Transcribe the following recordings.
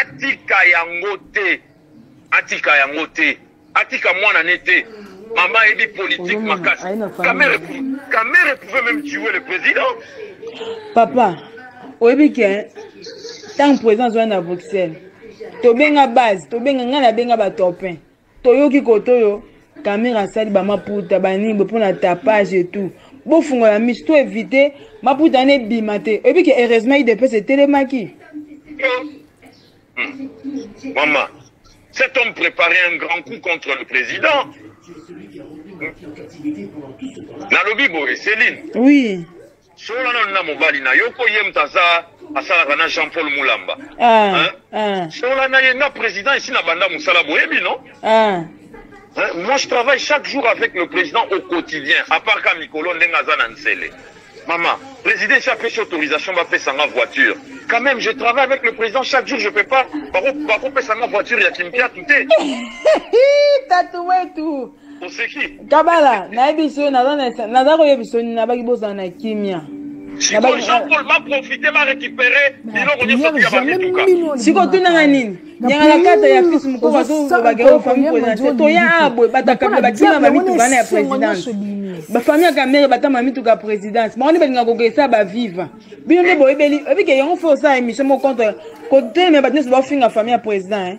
atika yango te atika yango te atika mwana ne te mama ayebi politique makasi kamere kamere pouvait même tuer le président papa oyebi ke ntango président azwani na bruxelles tobenga base tobenga ngai nabenga batopin toyoki kote oyo kamera asali bamaputa banini boye mpo na tapage et tout bofungola miso to evite maputa wana ebima te oyebi ke heureusement idps etelemaki hmm. mama cet homme préparait un grand coup contre le président nalobi boye céline oui solola nanu na mobali na yo ko ye moto aza asalaka na jean paul mulamba ah, Hein? ah, solola na ye na président esi na banda mosala boyebi no ah. Hein? moi je travaille chaque jour avec le président au quotidien à part ka mikolo ndenge aza na nsele mama président esi apesi autorisation bapesa nga voiture quand même je travaille avec le président chaque jour je peux pas bako- bakopesa nga voiture ya kimpiatu te Hi, tatu wetu kabala nayebisi yo naza koyebisa yo nini nabaki bozala na kimia siko tunanga nini nyanga na kata ya fils mokoko azobake o famille présidentielle toya abwe batakabila batima bamitu bana ya présidence bafamille ya kamere batama mituka ya présidence bango nde balinga kokesa baviva bino nde boyebeli ebike yango fo osala émission moko contre kotelemela bato nyonso baofinga famille ya président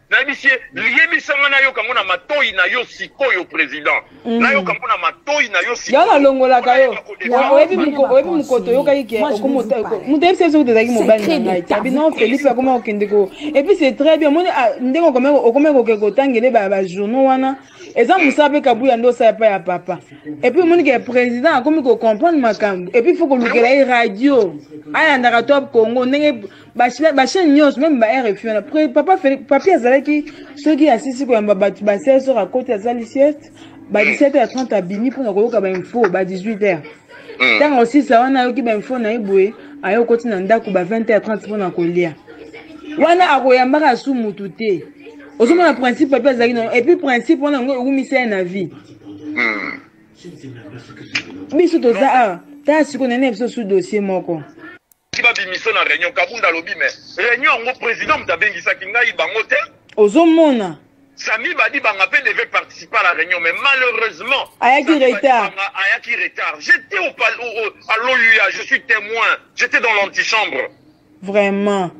nayebisi ye liyebisa nga nayoka yango na matoi na yo sikoyo président mm. nayoka yango na matoi na yo sikoyo nalongolaka yo oyebi mokoto oyokaki ke moto yebisa biso kutu ezalaki mobali na ngai te abi non félix akoma kokende ko epuis c'est très bien omoni ah, ndenge okomaki koke kotangele bajournaux wana eza mosala mpe kabuya nde osala epai ya papa epuis omoni ke président akomi kocomprendre makambo epuis fo kolukela ye radio ayandaka top congo ndenge bachaine nyonso meme ba rfi wana papa papi azalaki soki asisi koyamba bato ba 16 heure akoti asali sieste ba 17 heure 30 abimi mpona koyoka bainfo ba 18 heure ntango osisa wana ayoki bainfo na ye boye aye okoti na ndako ba 20 heure 30 mpona kolia wana akoyambaka asu mutu te ozomona principe papi azalaki na epuis principe wana yango ewumisa ye na vie biso toza awa tala sikoyo nene biso su dossier moko soki babimisa na réunion kabunda alobi me réunion yango président moto abengisaki ngai bango te ozomona sami badibanga mpe devait participer à la réunion mais malheureusement ayaki retard ayaki retard j'étais au, au, au, à l'oua je suis témoin j'étais dans l'antichambre vraiment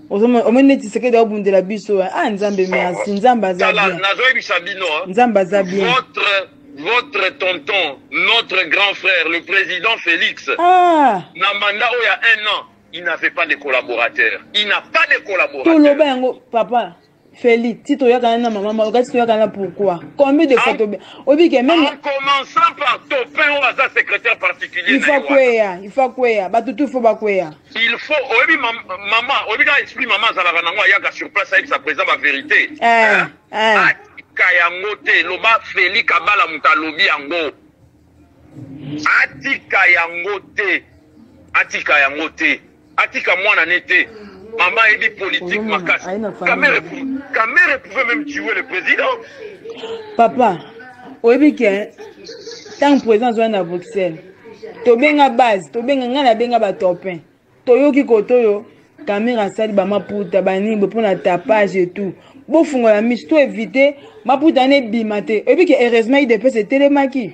omoni neti sekedi aobundela biso eh? ah nzambe merci nzambe aza bien nazoyebisa bino eh? nzambe aza bien votre votre tonton notre grand frère le président félix ah. na mandat oyo ya un an il n'avait pas de collaborateur il n'a pas de collaborateur toloba yango papa Feli, si tu yakana na maman Maloka, si tu yakana pourquoi Combien de fois tu obi que même en commençant par ton père ou sa secrétaire particulier. Il faut quoi Il faut quoi Ba tout tout faut ba quoi Il faut obi maman, obi ka esprit maman za la banango ayaka sur place avec sa présence la vérité. Eh. Hein? Eh. Kayango te, loba Feli kabala mutalobi yango. atika yango te atika yango te atika mwana ne te mama ayebi politique makasi kamere kamere pouvait même tuer le président papa oyebi ke ntango président azwani na bruxelles tobenga base tobenga ngai nabenga batopin toyoki koto oyo kamere asali bamaputa banini bo mpona tapage et tout bofungola miso to evite maputa wana ebima te oyebi ke heureusement idps etelemaki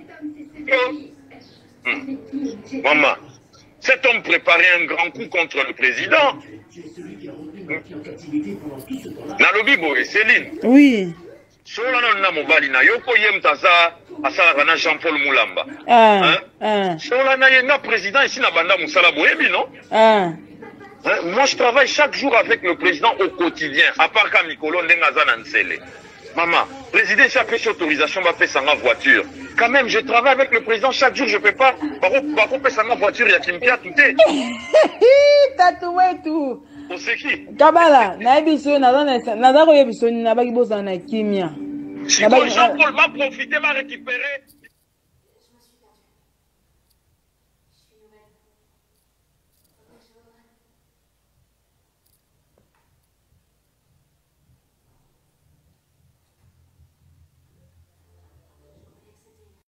hmm. mama cet homme prépare un grand coup contre le président nalobi boye céline oui solola nanu na mobali na yo mpo ye moto aza asalaka na jean paul mulamba ah, Hein? ah, solola na ye nga président esi na banda mosala boyebi no ah. Hein? moi je travaille chaque jour avec le président au quotidien à part ka mikolo ndenge aza na nsele mama président esi apesi autorisation bapesa nga voiture quand même je travaille avec le président chaque jour je peux pas bako- bakopesa nga voiture ya kimpiatu te Hi, tatu wetu kabala nayebi so naza koyebi so nini nabaki bozala na kimia